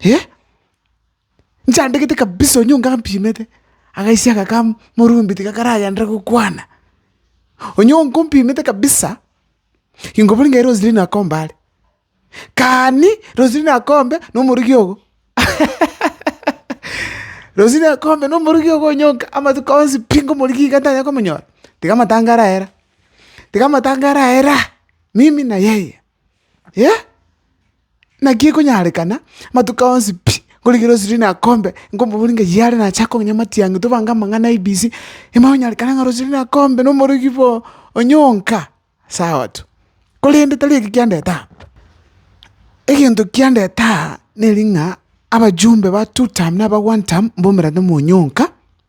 Eh! Nchandegete kabisa onye onga ampimete, agaisia aka ka morumbi tiga karagenderere gokwana. Onye onga ompimete kabisa, ingobori ngai Roselina akombe are. Kani Roselina akombe na omorogi ogo. Roselina akombe na omorogi ogo onye onga amatuko onsi pi ngomorigia iga ntanya komonyora, tiga amatango arahera, tiga amatango arahera, mimi na yeye. eh, naki ekonyarekana amatuko onsi pi, nkorigere osirie na kombe, nkomobori ng'a yare nache akong'enya amatiang'i tobange amang'ana ABC, ime onyarekane ng'a rosirie na kombe na omorogi boo onyonka, sawa tu. Korende tari eki kiandete aa, egento kiandete aa neri ng'a abajumbe ba two term na aba one term mbomerane monyonka.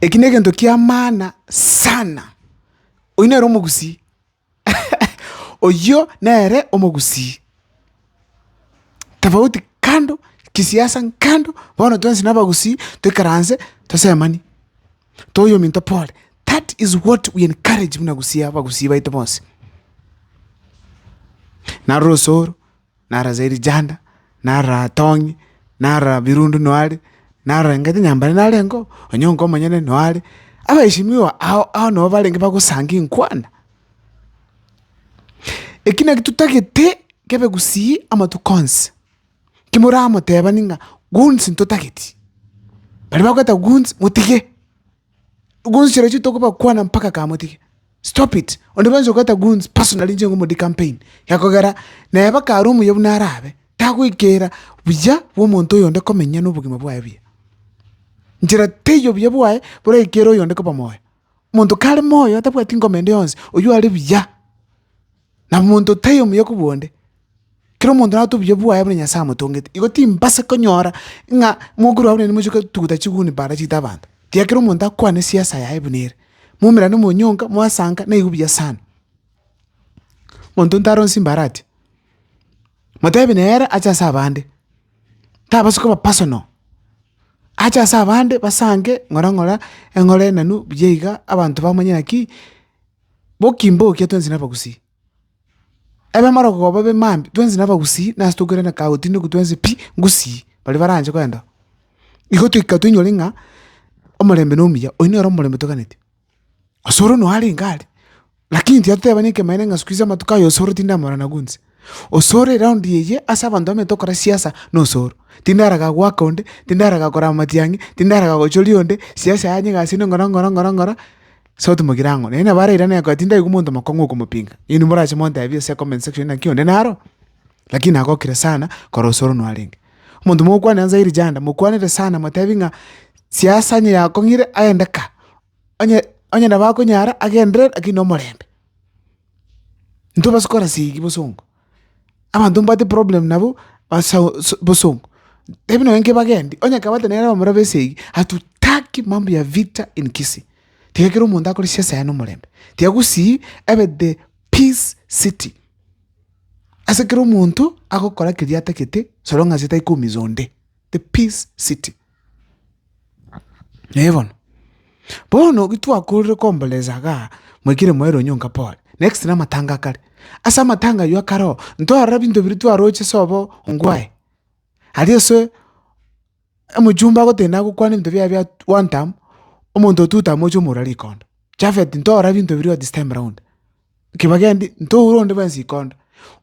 Eki negento ki'amaana sana. Oyio nere omogusii oyio nere omogusii, tofauti kando, kisiasa kando, bono twensi na abagusii toikaranse tosemanie, toye ominto pore. That is what we encourage buna gusii abagusii baito bonsi. Narora ase oro. na Raserijanda, na Ratong'i, na Rabirundu noare, na Rengeti nyambare narengo, onye onka omonyene noare, abaishimiwa ao ao nabo barenge bagosangia enkwana. Eki naki totagete kebe gusii amatuko onsi, kimoramotebani ng'a gunsi ntotageti, baria bagoeta gunsi motige, Goons chirochio tokobakwana mpaka kamotige, stop it, onde bwensi ogoeta goons personally inche ng'omodia campaign, iga kogera nere mpaka are omuya buna arabe, tagoikera buya bwa omonto oyonde komenya na obogima bwaye buya. Nchera teiyo obuya bwaye boraikere oyonde koba moyo, omonto kare moyo tabwati ngoma ende yonsi, oywo are buya. na monto taiyo omuya kobua onde, kera omonto nare otobuya bwaye buna Nyasae amotongete. Igo timbasa konyora ng'a mokoro abu naende moche kotuguta chiguni para chiita abanto, tiga kera omonto akwane siasa yaye buna ere. Moumerane monyonka, mwasanka, naigo buya sana. Monto nta aronsi mbare atia, motebi nere ache ase abande, tabasi koba personal, ache ase abande basanke ng'ora ng'ora eng'ore enenu buya iga, abanto bamanye naki. Mokimbokia twensi nabagusii. Ebe maragoka goba ebe mambia, twensi nabagusii, nase tokoirana kagogo tindi oku twensi pi, ngusii, baria baranche koenda. Igo toika toinyore ng'a omorembe nomuya, oyio nere omorembe toganeti. Osoro noyo arenge are, lakini tiyatotebani ekemanera ng'a siku hizi amatuko aye osoro tindamorana gonsi. Osoro ere raundi eye ase abanto bamenyete gokora siasa nosoro. Tindi araga goaka onde, tindi araga korama matiang'i, tindi araga gochoria onde, siasa yaye nigo ase ng'ora ng'ora ng'ora ng'ora, sauti mogire ang'o. Naende nabo arairane akoe tindaigwa omonto omokong'u okomopinga. Inwe morache montebie ase comment section ng'a naki onde naro, lakini nagokire sana kore osoro nwarenge. Omonto mogokwana Nyanza Hili Janda, mokwanere sana motebie ng'a siasa onye yakong'ire aende ka, onye onye nabo akonyara agenderere lakini nomorembe. Intwe basikora sigi bosongo, abanto mbabwate problem nabo basao so bosongo, tebi nonye inke bagendi onye kabate nere abamura ba esegi, hatutaki mambo ya vita in Kisii, tiga kera omonto akore siasa yaye na omorembe, tiga gusii ebe the peace city, ase kera omonto agokora keria atagete so long as etari koumiza onde, the peace city. Ee bono, bono gitwakorire komboresa igaa, mwaikire mwaira onyonka pore, next na amatanga akare, ase amatanga aywo akare oo, ntorora binto biria twaroche sobo ongwae, aria ase omochumba agotenda agokwana ebinto biaye bia one term, omonto two term ocha omora rikondo, Japhet ntorora binto biria oo this time round. Kebagendi, ntoure onde bwensi ikonda.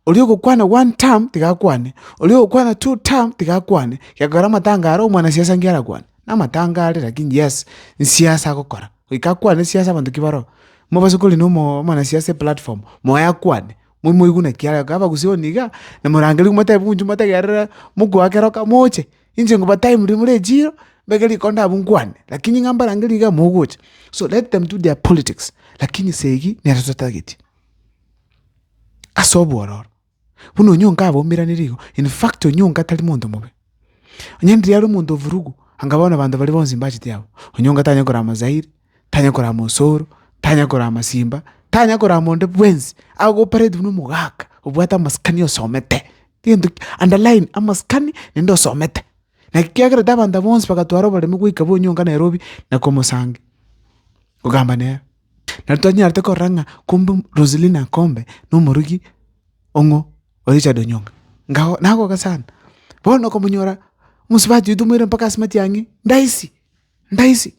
Oria ogokwana one term tiga akwane, oria ogokwana two term tiga akwane, gekogera amatanga aria omwanasiasa nki arakwane? Namatanga aria lakini yes, nsiasa agokora, goika akwane siasa abanto ki baroo. Mobase kori na omoo omwanasiasa eplatform, moe akwane, moi moigwe naki arayokora, abagusioni igaa, na morangeria motebi inche motegerere mogoa kero kamo oche, Inche ngobatai mori more echiro, mbeke rikonda abwo nkwane, lakini ng'a mbarangerie iga mogocha. So let them do their politics, lakini segi nere totagetie, ase obwororo. Buna onyonka abaumeranire igo, in fact onyonka tari monto mobe, onye riria are omonto ovurugu, anga bono abanto baria bonsi mbachete abwo, onyonka tanyare korama zairi, tanya kora mosoro tanya kora masimba tanya kora monde bwensi agopareti buna omogaka obwate amasikani osomete egento ki underline amasikani naende osomete naki kiagerete abanto aba bonsi bagatwara oboremu goika bonyonka Nairobi na komosangi kogamba nere. Nabo twanyarete korora ng'a kumbe Roselina Akombe na omoroki ong'o o Richard Onyonga ngao nagoka sana bono okomonyora omosubati oito moira mpaka ase matiang'i ndahisi. Ndaisi,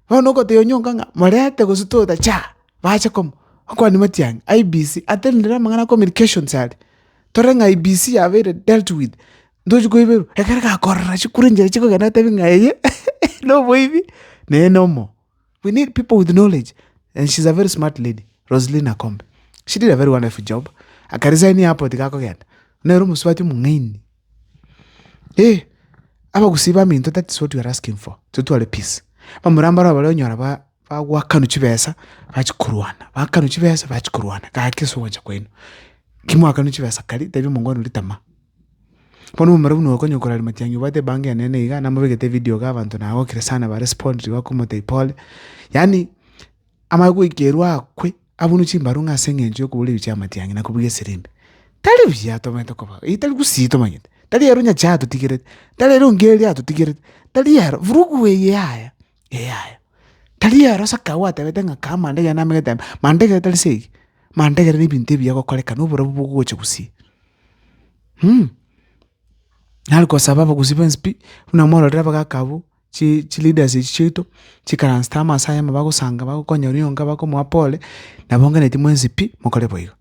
bono ogotebia onye onga ng'a morente gose toda cha, bache komo, okwane matiang'i, IEBC, attend rire amang'ana a communications aria, tore ng'a IEBC yabeire dealt with, ntochi koiberwa, ekero gakorora chikura enchera chikogenda otebie ng'a eye na oboibi, neye na omoo. We need people with knowledge and she's a very smart lady, Roseline Akombe, she did a very wonderful job, aka resign airport gakogenda, nere omosubati omong'aini. Eh, abagusii baminto that is what we are asking for, totware peace. Bamura mbaro abare onyora ba bagwakanu chibesa bachi korwana, bakanu chibesa bachi korwana gaki ase ogwancha kwaino. Ki mwakanu chibesa kari tebia omongwana oria tama. Bono omomura buna oyo okonya kora ri matiang'i obwate ebango enene iga namobegete evideo iga abanto nagokire sana ba respond ribakomotebi pole, yaani amanye goikerwa akwe. Abunu chimbaru ng'a ase engencho y'okoboreria chi'amatiang'i na kobugia esirimbia, tari buya atomete kobao, eye tari gusii tomanyete, tari ere onyache atotigerete, tari ere ongeri atotigerete, tari ero vurugu eye yaya, eye yaya, tari ero saka gwatebete ng'a kaa mandegere namegete ime, mandegere tari se eyio, mandegere na ebinto ebiya gokorekana oborabu bogocha gusii. Nari gosaba abagusii b'enswe pi, buna mororire abagaka abwo. chi chileaders echi chiaito, chikaransete amo ase ayemo bagosanga bagokonya oria oyonka bakomoa pole, nabonganeti mwensi pi, mokore boigo.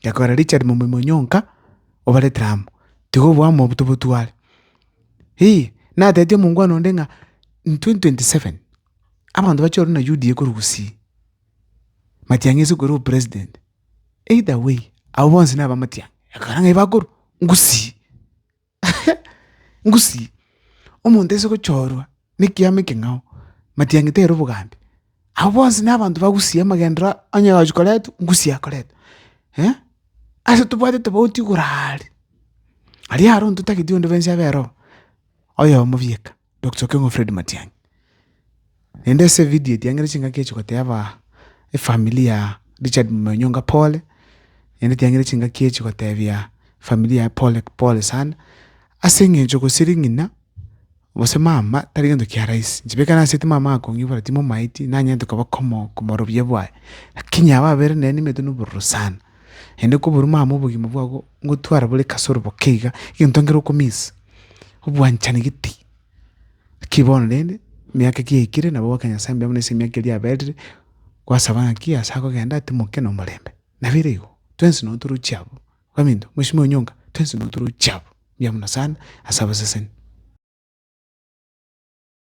Gekogera Richard momoimo onya onka, obaretire amo, tiga obua amo obotu botware. Hii, natebeti omongwana onde ng'a twenty twenty seven, abanto bache ororo na UDA korwa Gusii, Matiang'i ase korwa opresident, either way, abwo bonsi naba Matiang'i, ekero ng'a bakorwa, Gusii. Ngusii, omonto aise gochorwa nekiama ekeng'ao, matiang'ete ere obogambi. Abwo bonsi nabanto ba gusii amagendereo onye agochia koretwa, gusii akoretwa. Ase tobwate tofauti igoro aria, aria aronto totagete onde bwensi abe ere oo, oyomo bieka. Doctor Okeng'u Fred Matiang'i, naende ase evidio etiang'ire chingaki echi goteeba efamiri ya Richard Momoyo Onyonga pole, naende etiang'ire chingaki echi goteebia efamiri yaye pole pole sana, ase eng'encho gose ring'ina gose mama tari gento kia rahisi, inche beka naaseti mama akong'ibora timomaeti, nanyare tokaba komo komorobia bwaye, lakini ababere nere nibaete nobororo sana. Naende koboruma amo obogima bwabo ngotwara bore kasoro boke iga, egento nkere okominsa, obwanchani gete. Naki bono rende, emiaka ki yaikire nabo ogoaka Nyasae mbuya buna ase emiaka eria yaberire, gwasaba ng'aki ase akogenda atimoke nomorembe. Nabeire igo, twensi nabo toroche abwo. Baminto, mwesimiwe nyonga, twensi nabo toroche abwo, mbuya buna sana ase abaseseni.